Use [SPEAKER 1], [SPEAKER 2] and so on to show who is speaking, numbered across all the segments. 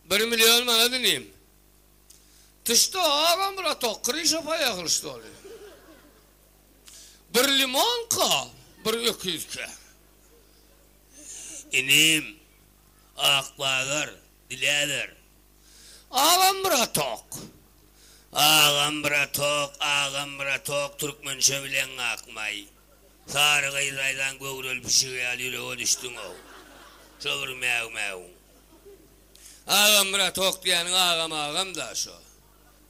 [SPEAKER 1] Bir million manat inim. Tüşde agam bratok kryşa paýa gylyç doly. Bir limonka, bir öküzke. Inim, ak bazar, diläber. Agam bratok. Agam bratok, agam bratok, türkmençe bileň akmaý. Sary gyz aýlan göwreli pişigi ýaly ýürege düşdüň-ow. Şo bir mäw-mäwiň. Agamyrat hoklaýanyň agam-agam-da şo.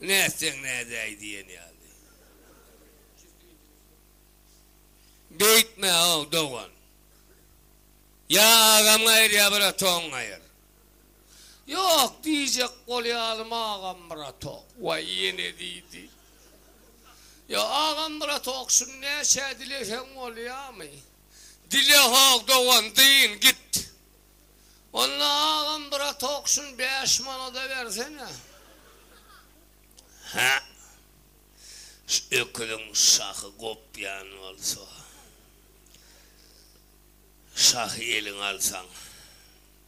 [SPEAKER 1] Nätseň nädäý diýen ýaly. Beýtme-ow, dogan. Ýa agaňy aýyr, ýa bir otagyňy aýyr. Ýok, diýjek bolýalym Agamyratok. Waý, ýene diýdi. Ýa, Agamyratok, şuny näçä dileseň bolýamy? Dilehok, dogan, dyn, git. Onda, Agamyratok, şuny bäş manada bersene. Hä, şu öküziň şahy gopýan bolsa. Şahy eliňe alsaň.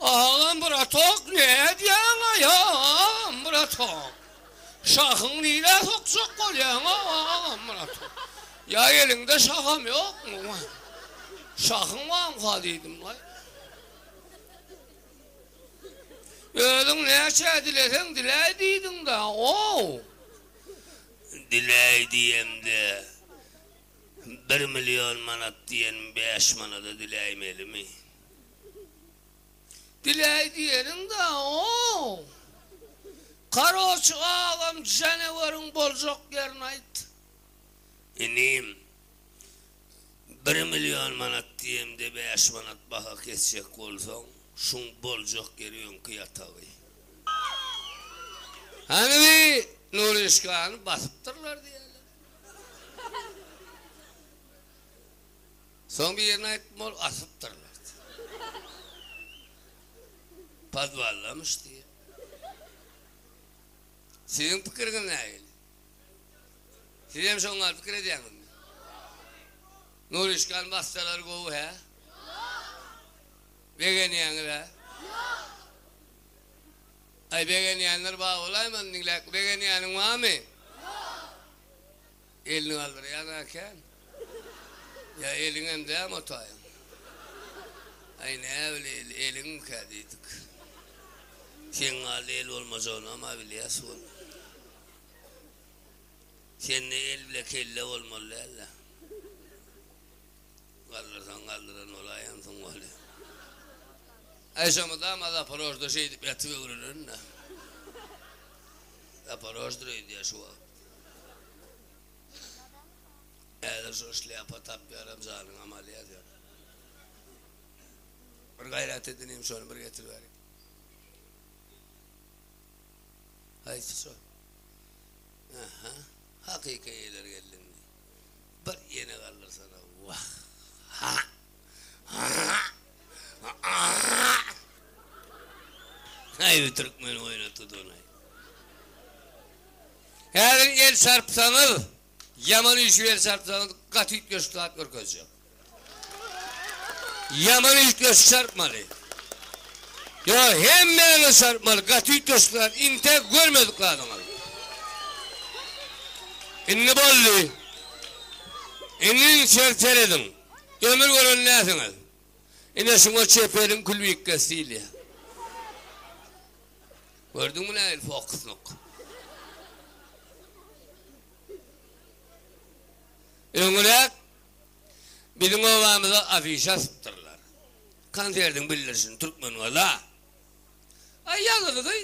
[SPEAKER 1] Agam bratok nädýäň aýam bratok. Şahyň nirä sokjak bolýaň agam bratok. Ýa eliňde şaham ýokmy waý. Şahyň barmyka diýdim waý. Özüň näçä dileseň diläý diýdiňdä ow. Diläý diýemde bir million manat diýen bäş manada diläýmelimi. Bileý diýeniň da ow. Karoçi agam janaweriň boljak ýerini aýt. Inim bir million manat diýemde bäş manat baha kesjek bolsaň şuň boljak ýeri öňki ýatagy. Hany bi Nuryşkany basypdyrlar diýýäler. Soň birine aýtdym, ol asypdyr berdi. Podwallamyş diýip. Siziň pikiriňiz nähili? Siz hem şoňa gal pikir edýäňizmi? Nuryşkan bassalary gowy hä? Begenýäňiz hä? Aý begenýänler bar bolaýmasyn diňläk begenýäniň barmy? Elini galdyrýan äkän. Ýa eliňem dämi otaýyň. Aý näbileyli eliňmikä diýdik. Seň galda el bolmajagyny-a bilýäs wol. Sende el bile kelle bolmaly däl-le. Galdyrsaň galdyran bolaýansyň weli. Aý şo mydama Zaporožda şeýdip ýatyp öwrenen-dä. Zaporoždyr öýdýä şu wagt. Häzir şo şlýapa tapýaram janyň amaly ýazýar. Bir gaýrat edin inim şony bir getiriberiň. Haýsy şo? Aha, hakyky eýeler geldi indi. Bir ýene galdyrsana, wah! Aý, bu türkmeni oýnatdydygyny-aý. Häzir el çarpsaňyz, ýaman üýşüp el çarpsaňyz, gaty üýtgeşik zat görkezjek. Ýaman üýtgeşik çarpmaly. Ýa, hemmäňiz çarpmaly, gaty üýtgeşik zat, intäk görmedik zadyňyz. Indi boldy. Indi içeri serediň. Ömür gören näsiňiz? Ine şuňa çeperiň külbikgesi diýilýär. Gördüňmi nähili fokuslyk? Öňüräk biziň obamyza afişa asypdyrlar. Konsertiň bildirişini Türkmengaza. Aý ýazylydy.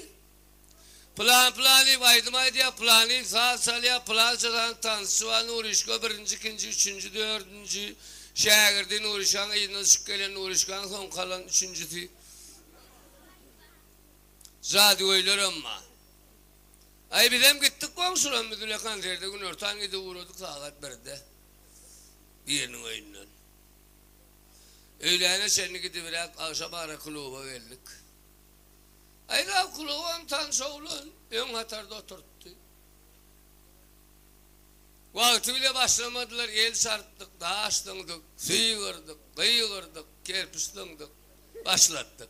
[SPEAKER 1] Pylan pylan diýip aýdym aýdýar, pylan diýip saz çalýar, pylança sanyň tansçy bar, Nuryşka birinji, ikinji, üçünji, dördünji şägirdi, Nuryşkanyň yzyndan çykyp gelen, Nuryşkanyň soň galan üçünjisi. Jadygöýlerem bar. Aý, bizem gitdik goňşularym biz bile konserte günortan gidip ugradyk sagat birde biriniň öýünden. Öýläne çenli gidibiräk, agşamara kluba geldik. Aýlaw klubam tanyş oglan öň hatarda oturtdy. Wagty bile başlamadylar el çarpdyk, daş zyňdyk, sygyrdyk, gygyrdyk, kerpiç zyňdyk, başlatdyk.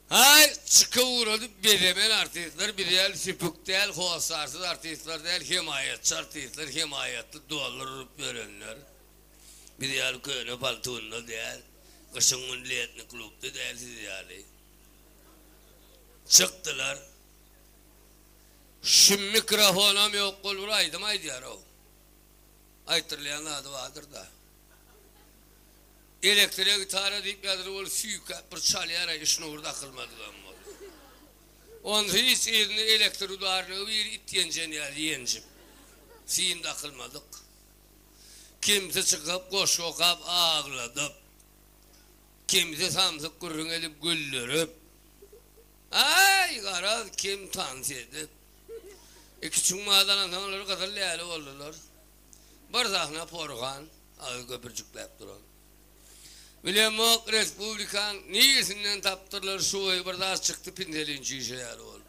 [SPEAKER 1] Haý, çyka ugradyp bezemen artistler biz ýaly süpük däl, hossarsyz artistler däl, hemaýatçy artistler hemaýatly dollar urup ýörenler. Biz ýaly köne paltunda däl, gyşyň gün letni klubda däl siz ýaly. Çykdylar. Şu mikrofonam ýok bol bir aýdym aýdýarow. Aýtdyrylýan zady bardyrda. Elektro gitara diýip ýazylyp ol süýkäp bir çalýar aýy şnur dakylmadygam bol. Onsuz hiç yzynda elektro udarlygy bir it ýenjen ýaly ýenjip. Sim dakylmadyk. Kimsi çykyp goşgy okap agladyp, kimsi samsyk gürrüň edip güldürip, aý, garaz, kim tans edip. Iki çuňňadanam soň olar gyzyl läle boldular. Bir sahna porhan, agy köpürjikläp duran. Bilemok, respublikaň niresinden tapdyrlar, şu boýy bir zat çykdy, pinselin çişe ýaly bolup.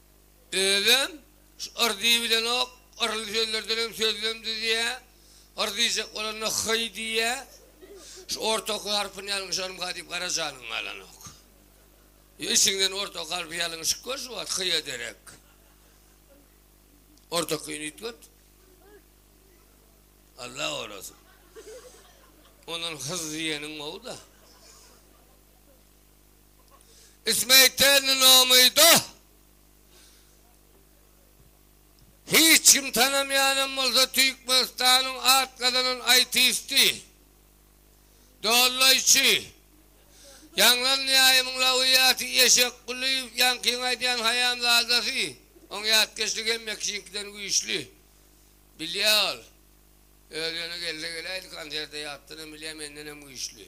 [SPEAKER 1] Özem şu yr diýi bilenok, yrly sözlerdenem sözlem düzýär. Yr diýjek bolanda hyý diýýär. Şu orta oky harpyny ýalňyşarym ha diýip gara janyň galanok. Ýa içiňden orta oky harpy ýalňyşyp gör şu wagt hyýa derek. Orta okyny üýtget. Alla gorasyn. Ondan hyz diýeniň gowy-da. Ismeýtelnin omyda hiç kim tanamaýanam bolsa Türkmenistanyň at gazanan aýtisti, dollaýçy, ýaňlan Näýimiň lawyýaty Eşek Gulyýew ýaňkyň aýdýan haýamzadasy, oň ýatkeşligi hemme kişiňkiden güýçli. Bilýä ol. Öz ýöne gelse geläýdi konserte ýatdanam bilýä mendenem güýçli.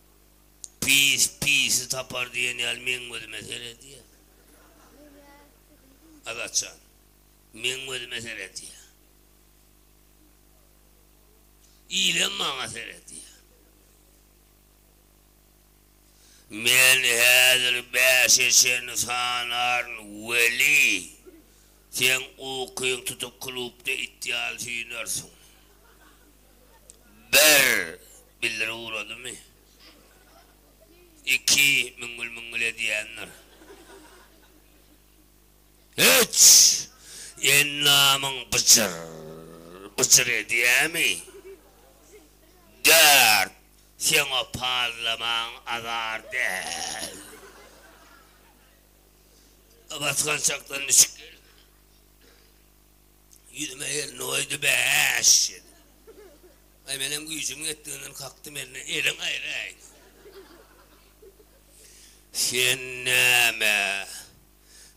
[SPEAKER 1] Pis pisi tapar diýen ýaly meň gözüme seredýä. Azat jan. Meň gözüme seredýä. Ilem maňa seredýä. Men häzir bäşe çenli sanaryn, weli, seň ukyň tutup klubda it ýaly süýnersiň. Bir, bildiri ugradymy? Iki, müňňül-müňňül edýändir. Üç, endamyň byjyr, byjyr edýämi? Dört, seň o pazlamaň azar däl. Basgançakdan düşüp gelip. Ýüzüme elini goýdy, Bäş! diýdi. Aý, menem güýjümiň ýetdiginden kakdym, Elini, eliň gaýraý! Sen näme,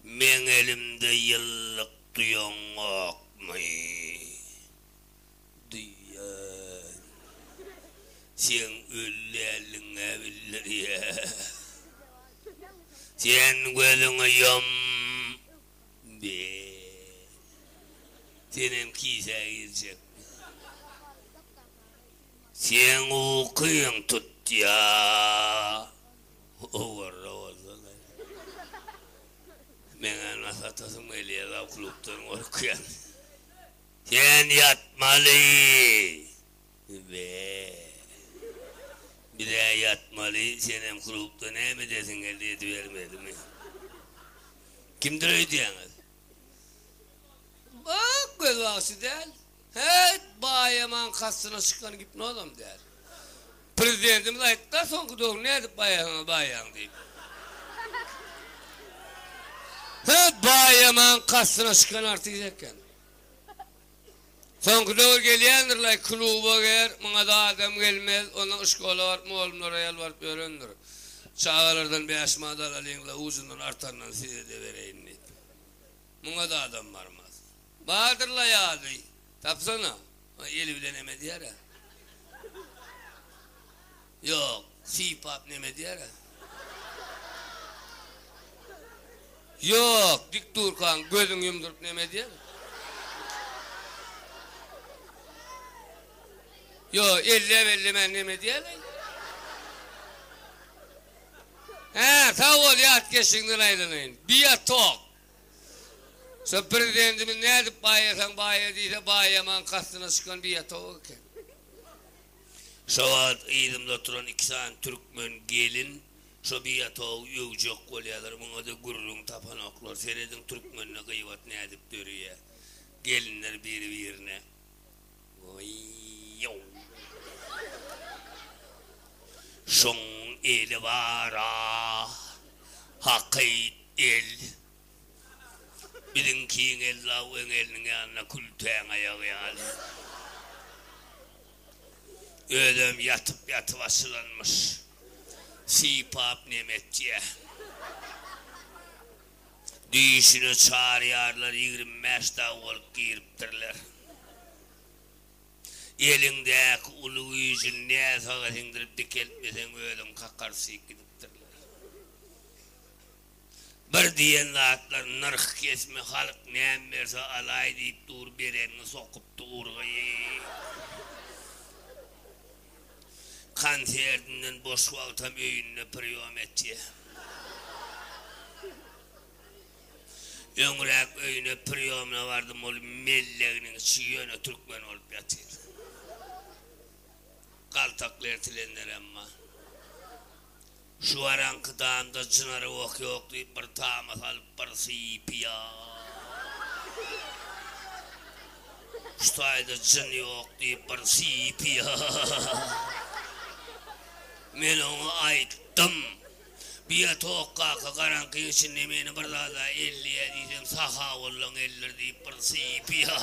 [SPEAKER 1] meň elimde ýyllyk duýaňokmy? Duýýan. Seň öli däldigiň-ä bildirýär. Sen gözüňi ýum! Be! Senem kisä girjekmi? Seň ukyň tutýa! Owarra bolsana. Meňä nasy atasyň gelýä zawklukdan gorkýan. Sen ýatmaly! Be! Biz-ä ýatmaly, senem klubda näme edesiň geldi edibermedimi? Kimdir öýdýäňiz? Bak, göz bagşy däl. Hät, Baýaman kastyna çykan gipnozam däl. Prezidentimiz aýtdy-da, soňky döwür nädip baýasaňyz baýaň diýip. Hät, Baýaman kastyna çykan artist eken. Soňky döwür gelýändirlaý kluba gir muňada adam gelmez onda yşkola baryp mugallymlara ýalbaryp ýörendir çagalardan bäş manat alalyňla ujundan artandan sizede bereýin diýip muňada adam barmaz bardyrlaý ady tapsana eli bilen hem edýärä. Ýok, sypap neme edýär-ä? Ýok, dik durkaň, gözüňi ýumduryp neme edýär? Ýok, elläp-ellemän neme edýär-leý? Hä, sag bol, ýatkeşligiňden aýlanaýyn. Biotok. Şu Prezidentimiz nädip baýasaň baýa diýse, baýaman kastyna çykan biotok eken. Şo wagt yzymda oturan iki sany türkmen gelin şo biatoby öwjek bolýarlar, muňa-da gürrüň tapanoklar. Serediň, türkmende gybat nädip döreýär. Gelinler biri-birine. Waý-ýow! Şoň eli bar-a! Hakyt el! Biziň kiň ella weň eliniň ýanynda kültäň aýagy ýaly. Özem ýatyp ýatyp açylanmyş. Sypap neme etýä. Düýşüne çarýarlar ýigrimi bäş dag bolup giripdirler. Eliňdäki uly güýjüni näsaga siňdirip dikeltmeseň özüň kakar syp gidipdirler. Bir diýen zatlar nyrh kesme halyk näm berse alaý diýip dur berenini sokypdy urgy. Konsertinden boş wagtam öýünde priýom etýä. Öňräk öýüne priýomna bardym ol melleginiň içi ýöne türkmen bolup ýatyr. Galtakly ertilenlerem bar. Şu araňky danda Çynara oh ýok diýip bir tama salyp bir syýpýar. Şu taýda Jyn ýok diýip bir syýpýar. Men oňa aýtdym. Biýatok kaka garaňkyň içinde meni bir zada elleýä diýseň sahawullaň ellir diýip bir syýpýar.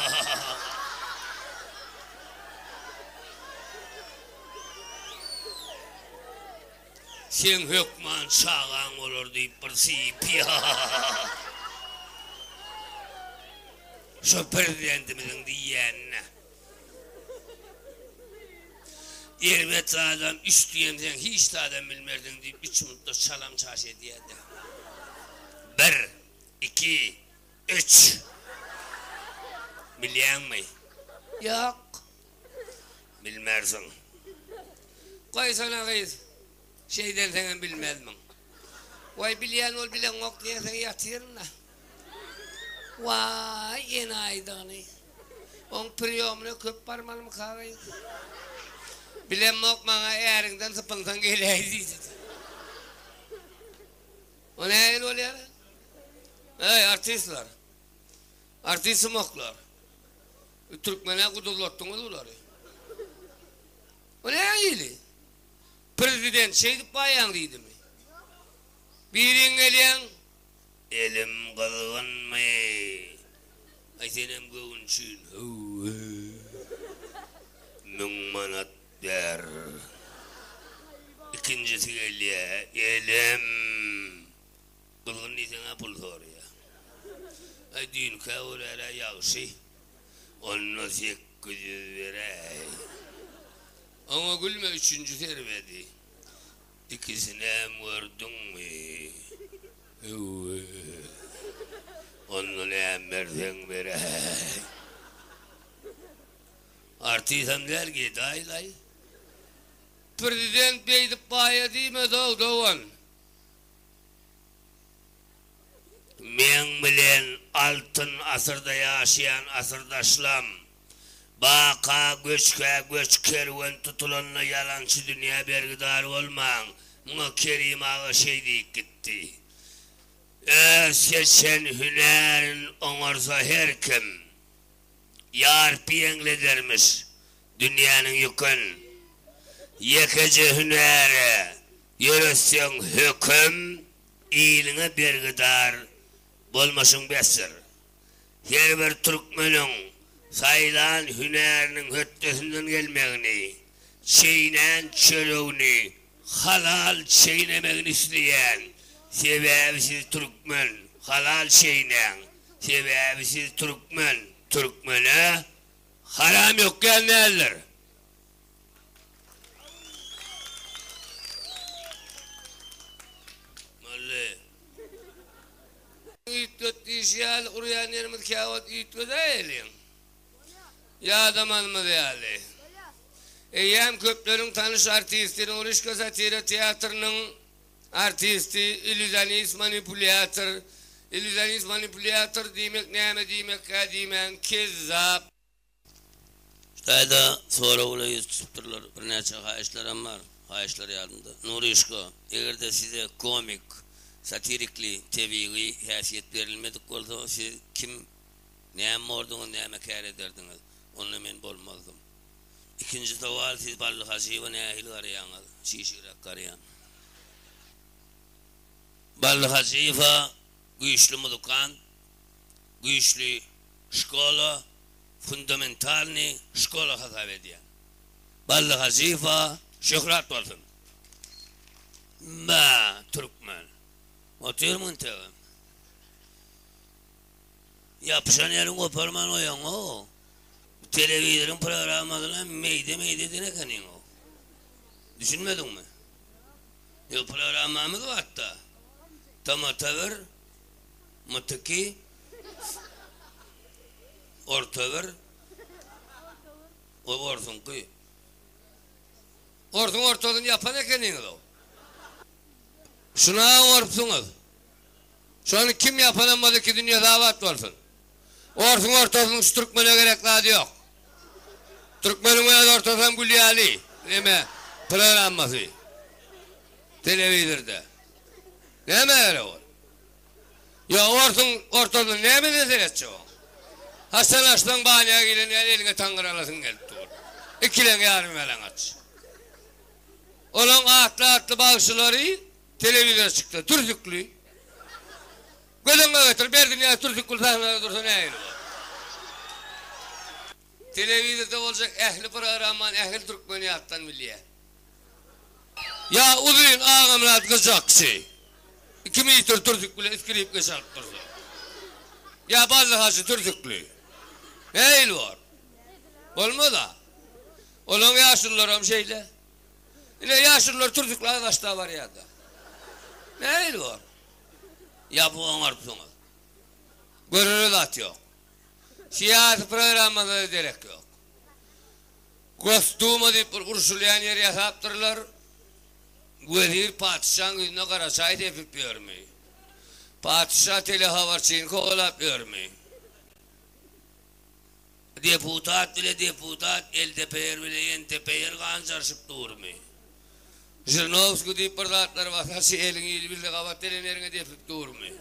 [SPEAKER 1] Seň hökman çagaň bolar diýip bir sypýar. Şo prezidentimiziň diýýänine. Erbet adam üç diýen seň hiç zadam bilmersiň diýip üç minutda çalam çaş edýärdi. Bir, iki, üç. Bilýäňmi? Ýok. Bilmersiň. Goýsana gyz, şeýdenseňem bilmezmiň. Waý, bilýän bolup bileňok diýensoň ýatyryn-da. Waý, enaýydygyny. Oň priýomyna köp barmalymyka gyz? Bilemok, maňa äriňden sypynsaň geläý diýdi. O nähili bolýar-a? Eý, artistler! Artistymoklar! Türkmene gudurlatdyňyz bulary. Bu ne hili? Prezident şeýdip baýaň diýdimi? Biriň gelýäň, Elim gyzgynmy? Aý senem göwünçin, Hawa. Müň manat ber. Ikinjisi gelýä, Elim. Gyzgyn diýseň-ä pul soraýa. Aý düýnkä görä-le ýagşy. Onda sekgiz ýüz beräý. Oňa gülme üçünji serwedi. Ikisinem gördüňmi? Höwwee. Onda näme berseň beräý. Artisam däl gedaýlaý. Prezident beýdip baýa diýmez-ow dogan. Meň bilen Altyn asyrda ýaşaýan asyrdaşlam, Baka göçkä göç kerwen tutulanda ýalançy dünýä bergidar bolmaň, muňa Kerim aga şeý diýip gitdi. Öz geçen hünärin oňarsa her kim. Ýarpy ýeňledermiş dünýäniň ýükün. Ýekeje hünäre ýöretseň höküm, iliňe bergidar bolmaşyň besdir. Her bir türkmeniň saýlan hünäriniň hötdesinden gelmegini, çeýnän çöregini Halal çeýnemegini isleýän, sebäbi siz türkmen, halal çeýnäň, sebäbi siz türkmen, türkmene haram ýok diýen däldir. Molly. Üýtget diýşi ýaly urýan ýerimiz käwagt üýtgedäýeliň. Ýadamazymyz ýaly, eýýäm köpleriň tanyş artisti, Nurişka satira teatrynyň artisti, illýuzionist, manipulýator. Illýuzionist, manipulýator diýmek näme diýmekkä diýmäň, kezzap. Hytaýda sorag bilen ýüz tutupdyrlar. Birnäçe haýyşlaram bar. Haýyşlar ýadymda. Nurişka, eger-de size komik, satirikli, tebigy häsiýet berilmedik bolsa, siz kim? Näme bolduňyz, näme kär ederdiňiz? Onda men bolmazdym. Ikinji sowal, siz Bally Hajyýewa nähili garaýaňyz? Çişigräk garaýan. Bally Hajyýewa güýçli muzykant, güýçli şkola, fundamentalnyý şkola hasap edýän. Bally Hajyýewa şöhrat bolsun! Bä, türkmen. Otyrmyň tögem. Ýapyşan ýeriň goparman goýaňow. Bu telewizoryň programmasyna meýde-meýde eden ekeniňow. Düşünmediňmi? Ýok, programmamyz batda. Tamata bir, myt iki, orta bir, o orsuňky. Orsuň ortasyny ýapan ekeniňizow. Şuna-a gorupsyňyz. Şony kim ýapanam bolsa iki dünýesi abat bolsun. Orsuň ortasynyň şu türkmene gerek zady ýok. Türkmeniň öz ortasam gül ýaly neme programmasy telewizorda. Näme gerek ol. Ýa orsuň ortasyna nämeden seretjek oň. Haçan açsaň banýa giren ýaly eliňe taňňyr alasyň gelip dur. Ikileň ýarym ýalaňaç. Olaň atly atly bagşylary Telewizor çyksa dürsükli. Göz öňüňe getir, Berdinyýaz Türsükgül sahnada dursa nähili bolar? Telewizorda boljak ähli programmany ähli türkmen ýatdan bilýär. Ýa uzyn Agamyrat gyjakçy iki metr türsük bilen skripka çalyp dursa. Ýa Bally hajy türsükli. Nähili bor? Bolmaz-a. Olaň ýaşulularam şeýle. Ine, ýaşulular türzükli agaçda barýar-da. Nähili bor? Ýapyk oňarypsyňyz. Görere zat ýok. Syýasy programmada-da derek ýok. Gosduma diýip bir urşulýan ýer ýasapdyrlar. Wezir patyşaň ýüzüne gara çaý sepip ýörmi? Patyşa telehabarçyny kowalap ýörmi? Deputat bile deputat eltepeýer bile ýentepeýer ganjaryşyp durmy? Žirnowskiý diýip bir zatlar basa şy eliň ýyly bilse gabat deleneriňe depip durmy?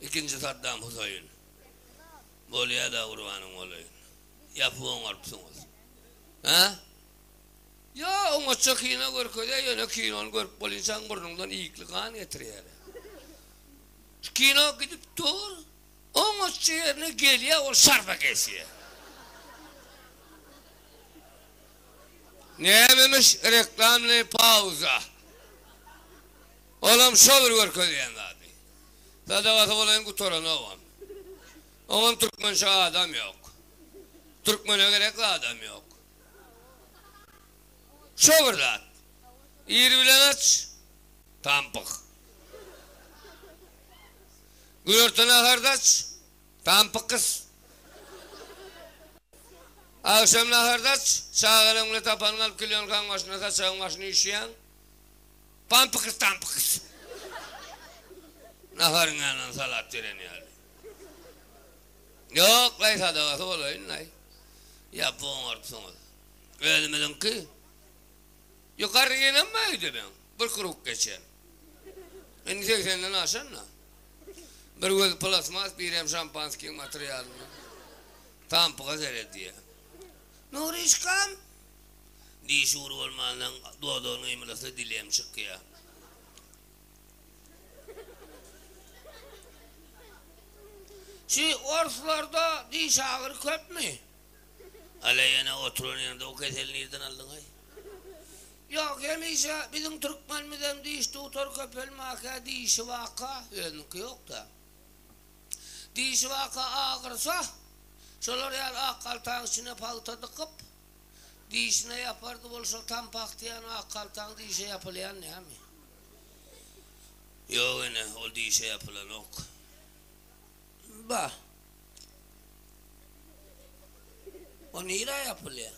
[SPEAKER 1] Ikinji Saddam Husaýyn. Bolýada gurbanyň bolaýyn. Ýapyp oňarypsyňyz. Hä? Ýa oňatja kino görkezýä ýöne kinony görüp bolýynçaň burnuňdan ýykly gan getirýäler. Şu kino gidip dur. Oňatja ýerine gelýär, ol şarpa geçýär. Nämemiş reklamnyý pauza? Olam şo bir görkezýän zady. Sadagasy bolaýyn gutaranogam. Oňam türkmençe adam ýok. Türkmene gerek zadam ýok. Şo bir zat. Ir bilen aç, tampyk. Bu ýurtda naharda aç, tampyk gys. Agşam naharda aç, çagalaň bilen tapanyňy alyp kilýonkaň başynda, saçagyň başyny üýşýäň. Pampyk gys, tampyk gys. Naharyň ýanyna salat beren ýaly. Ýok-laý, sadagasy bolaýyn-laý. Ýa bu oňartsaňyz. Özümiziňki. Ýokary gelenmi öýde meň? Bir kruk geçen. Indi segsenden aşan-da. Bir gözi plasmas, birem şampanskiň materialyndan. Tampyga seredýär. Nuryşkam! Diş ugry bolmandan dodagyny gymyldasa dili hem çykýar. Şu orslarda diş agyry köpmi? Alä ýene oturan ýerde o keseli nirden aldyňaý? Ýok, hemişe biziň türkmenimizem diş dutar köpelmäkä dişi waka, özüniňki ýokda. Dişi waka agyrsa, şolar ýaly ak haltaň içine pagta dykyp, dişine ýapardy bolsa tam pagt diýýän ak haltaň dişe ýapylýan näme? Ýok ene, ol dişe ýapylanok. Ba. O nirä ýapylýa?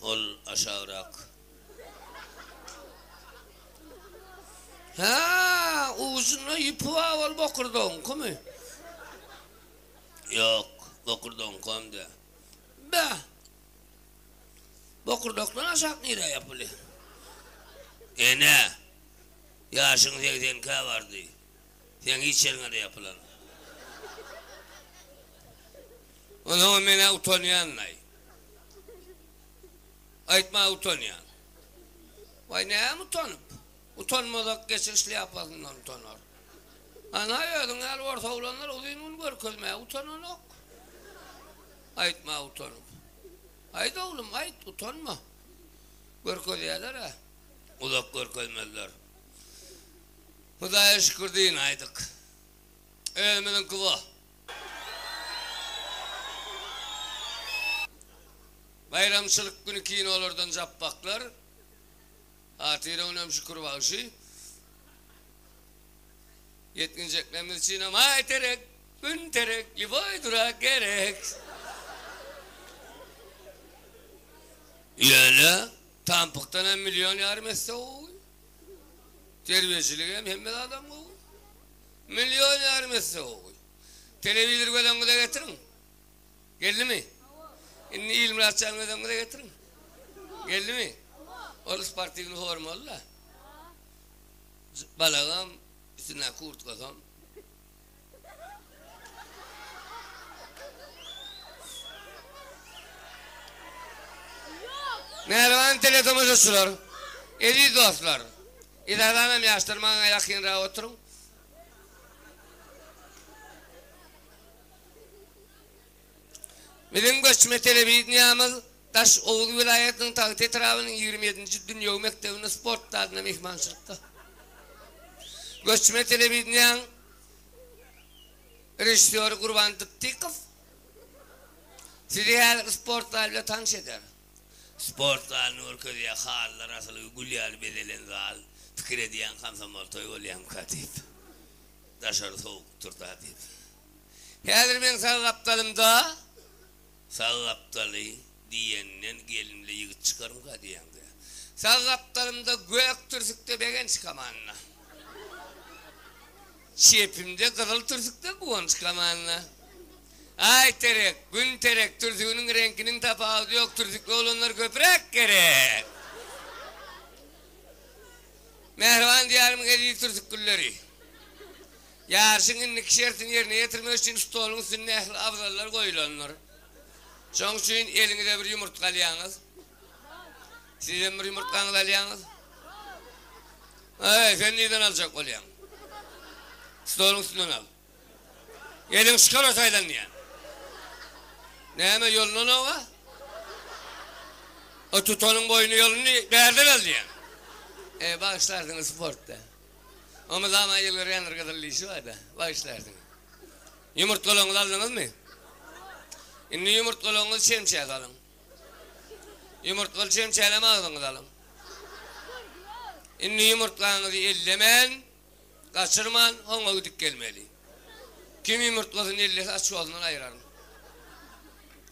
[SPEAKER 1] Ol aşagrak. Hä, ujunda ýüpi bar ol bokurdagyňkymy? Ýok, bokurdagyňkam däl. Ba. Bokurdakdan aşak nirä ýapylýa? Enä. Ýaşyň segsenkä bardy. Seň hiç ýeriňe-de ýapylan. Onsoňam men-ä utanýan-laý. Aýtma utanýan. Waý, näme utanyp? Utanmazak geçir şlýapasyndan utanar. Ana, özüň ýaly orta oglanlar uzyn gün görkezmäge utananok. Aýtma utanyp. Aýt, oglum, aýt, utanma. Görkezýärler-ä. uzak görkezmezler. Hudaýa şükür diýin aýdyk. Özümiziňki bo. Baýramçylyk güni kinolardan japbaklar. Hatyra önem şükür bagşy. Ýetginjeklerimiz üçinem Aý terek, Gün terek, Liboý durak gerek. Ýöne. Tampykdan hem million ýarym esse gowy. Terbiýeçilik hem hemme zadam gowy. Million ýarym esse gowy. Telewizor gözüňize getiriň. Geldimi? Indi Ilmyrat jan gözüňize getiriň. Geldimi? Ol sportiwny formaly-da. Balagam, üstündäki kurtkasam. Mähriban teletomaşaçylar, eziz dostlar! Yzardanam ýaşlar maňa ýakynrak oturyň. Biziň göçme telewideniýämiz Daş oguz welaýatynyň Tagt etrabynyň ýigrimi ýedinji dünýewi mekdebinde sport zalynda myhmançylykda. Göçme telewideniýäň režissýory Gurban Dytdykow sizi häzirki sport zaly bilen tanyş eder. Sport zalyny görkezýär, halylar asylgy gül ýaly bezelen zal. Pikir edýän, komsomol toý bolýarmyka diýip. Daşary sowukdyr-da diýip. Häzir meň sag gapdalymda, sag gapdaly diýenden gelimli ýigit çykarmyka diýýäňdä. Sag gapdalymda gök türsükde Begenç Kamanna. Çepimde gyzyl türsükde Guwanç Kamanna. Aý terek, gün terek, türsüginiň reňkiniň tapawudy ýok, türsükli oglanlar köpräk gerek. Mähriban Diýarymyň eziz türsük gülleri. Ýaryşyň indiki şertini ýerine ýetirmek üçin stoluň üstünde ähli abzallar goýulandyr. Şoň üçin eliňize bir ýumurtga alýaňyz. Siz hem bir ýumurtgaňyzy alýaňyz. Aý, sen nirden aljak bolýaň? Stoluň üstünden al. Eliň şikara saýlanýan. Näme, ýolundan oba? O tutanyň boýny ýolundy, bärden al diýýän. Eý, bagyşlarsyňyz, sportda. Omuzama ýyl görýändir gyzyl dişi barda, bagyşlaýarsyňyz. Ýumurtgalaryňyzy aldyňyzmy? Indi ýumurtgalaryňyzy çemçä salyň. Ýumurtgaly çemçälem agzyňyza alyň. Indi ýumurtgaňyzy ellemän, gaçyrman, hoňa gidip gelmeli. Kim ýumurtgasyny ellese aç ýolundan aýyraryn.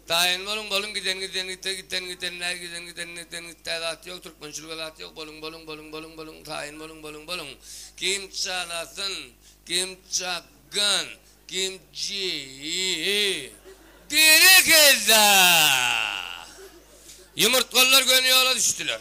[SPEAKER 1] Daýan boluň boluň giden giden gitde gitden gitendäý giden giden gitden gitdäý zat ýok türkmençilige zat ýok boluň boluň boluň boluň boluň taýyn boluň boluň boluň kim çalasyn kim çakgyn kim jeýi berekella ýumurtgalylar göni ýola düşdüler.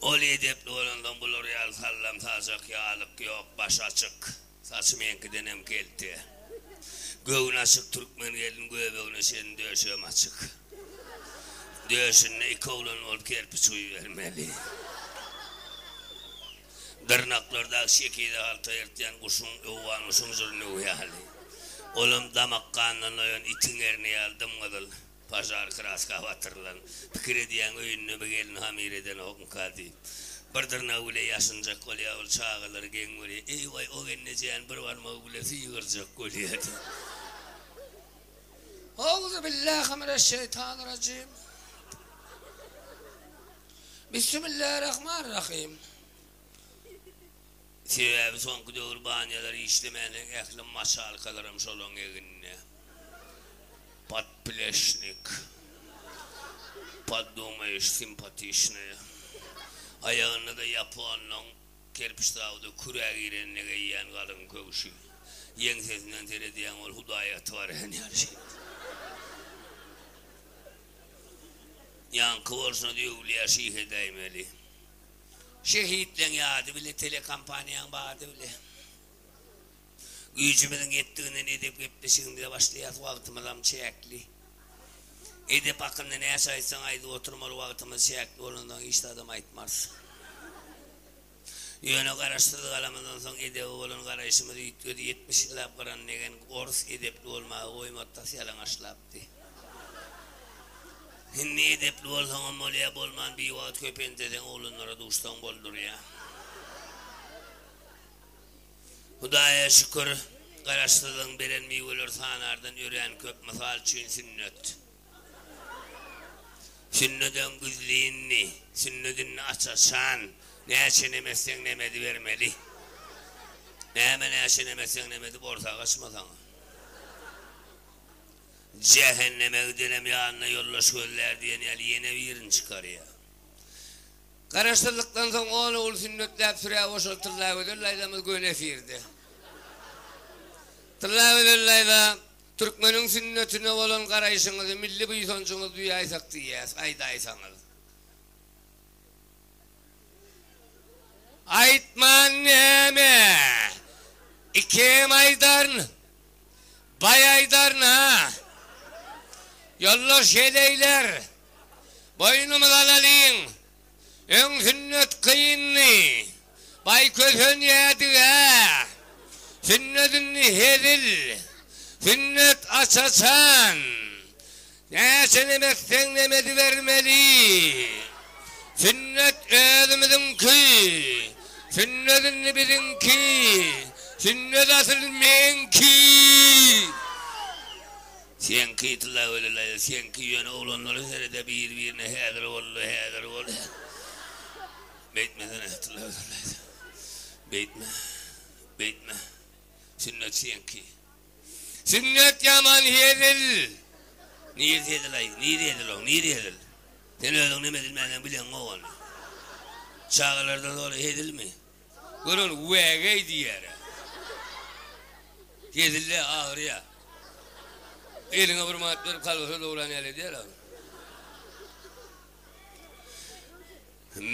[SPEAKER 1] Ol edepli bolansoň bular ýaly sallam saljak ýalyk ýok, başy açyk, saçy meňkidenem kelte. Göwni açyk türkmen gelin göbegine çenli döşegem açyk. Döşünde iki oglan bolup kerpiç guýubermeli. Dyrnaklardaky şekili halta ýyrtýan guşuň, owgan guşuň jyrnygy ýaly. Olam damak ganyndan doýan itiň erni ýaly dym-gyzyl. Pažar kraska batyrylan, pikir edýäň öýündemi gelin hamyr edenokmyka diýip. Bir dyrnagy bile ýaşynjak bolýa ol çagalary geň görýä. Eý waý o gelnejäni bir barmagy bile sygyrjak bolýa diýip. Auzubillahiminesheytanirajim. Bissimillarahmanirahim. Sebäbi soňky döwür banýalar işlemänsoň ähli maşalkalaram şolaryň egninde. Podpleşnik. Poddumajyş simpatiçnaýa. Aýagynda-da ýaponlaryň kerpiç zawuda kürä girende geýýän galyň köwşi. Ýeňsesinden seredýäň ol hudaýa aty barýan ýaly şeýle. Ýaňky bolşuna döwülýär şihe däýmeli. Şehitleň ýady bile telekompaniýaň bady bile. Güýjümiziň ýetdiginden edep gepleşigimize başlaýas wagtymyzam çäkli. Edep hakynda näçe aýtsaň aýdyp oturmaly wagtymyz çäkli bolanda hiç zadam aýtmarys. Ýöne garaşsyz galamyzdan soň edebe bolan garaýşymyz üýtgedi ýetmiş ýyllap gyran megen orus edepli bolmagy goýmady tas ýalaňaçlapdy. Hemme edepli bolsaňam bolýar, bolman biwagt köpenteseň oglanlara duşsaň boldurýar. Hudaýa şükür, Garaşsyzlygyň beren miweleri sanardan örän köp, mysal üçin sünnet. Sünnedem güzlindi, sünnedindi aç-açan, näçe nemetseň nemedi bermeli. Näme näçe nemetseň nemedi borsa gaçmasaňam. Jähenneme gidenem ýanyna ýoldaş gözlär diýen ýaly ýene birini çykarýar. Garaşsyzlykdan soň on ogul sünnetläp sürä goşan Tyllagözel daýzamyz göni efirde. Tyllagözel daýza, türkmeniň sünnetine bolan garaýşyňyzy, milli buýsanjyňyzy duýaýsak diýýäs, aýdaýsaňyz. Aýtman näme? Ikem aýdaryn. Baý aýdaryn-a. Ýollaş heleýler, boýnumyzy alalyň. Öň sünnet kyndy. Baý kösenýärdi-ä. Sünnet indi hezil. Sünnet aç-açan. Näçe nem etseň nem edibermeli. Sünnet özümiziňki. Sünnet indi biziňki. Sünnet asyl meňki. Seňki tylla welillaýda seňki ýöne oglanlara serede bir birine häzir bolly häzir bol beýtmesene tylla welillaýda beýtme beýtme sünnet seňki. Sünnet ýaman hezil. Nir hezil-aý, nir hezil o, nir hezil. Sen özüň näme edilmändigini bileňok ony. Çagalarda doly hezilmi? Gör ony, wägeý diýýär-ä. Hezil-dä, agyrýa. Eliňe bir manat berip, kolbasa dogran ýaly edýär-ä ony.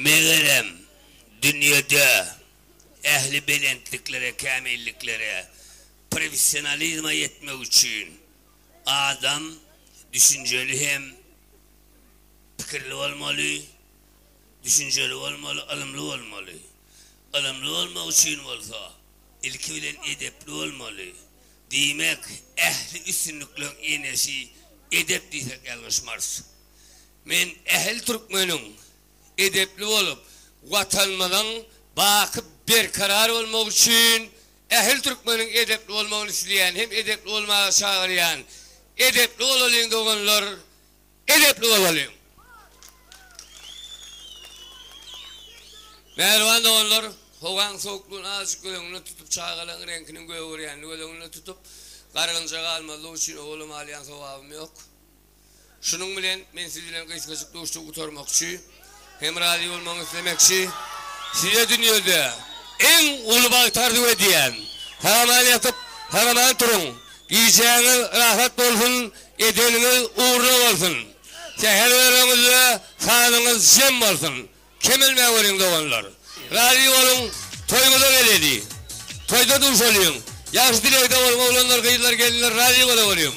[SPEAKER 1] Megerem, dünýede ähli belentliklere, kämilliklere Professionalizme ýetmek üçin adam düşünjeli hem pikirli bolmaly, düşünjeli bolmaly, ylymly bolmaly. Ylymly bolmak üçin bolsa ilki bilen edepli bolmaly. Diýmek, ähli üstünlikleň enesi edep diýsek ýalňyşmarys. Men ähli türkmeniň edepli bolup, Watanymyzyň baky berkarar bolmagy üçin Ähli türkmeniň edepli bolmagyny isleýän hem edepli bolmaga çagyrýan edepli bolalyň doganlar edepli bolalyň. Mähriban doganlar howaň sowuklygyny azajyk göz öňünde tutup çagalaň reňkiniň gögerýänini göz öňünde tutup gargynja galmazlyk üçin owalam alýan sowabym ýok. Şunuň bilen men siz bilen gysgajyk duşuşygy gutarmakçy hem razy bolmagyňy islemekçi. Size dünýede iň uly bagt arzuw edýän. Sag-aman ýatyp, sag-aman turuň. Gijäňiz rahat bolsun, edeniňiz ugruna bolsun. Säher öreniňizde sanyňyz jem bolsun. Kemelmä welin doganlar. Razy boluň toýuňyza geleli. Toýda duşalyň. Ýagşy dilegde boluň oglanlar gyzlar gelinler razy bola boluň.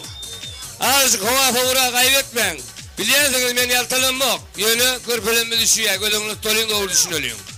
[SPEAKER 1] Azajyk howa sowura gaýbetmäň. Bilýänsiňiz men ýaltalanmok. Ýöne körpelemmiz üşüýä göz öňüne tutulyň dogry düşüneliň.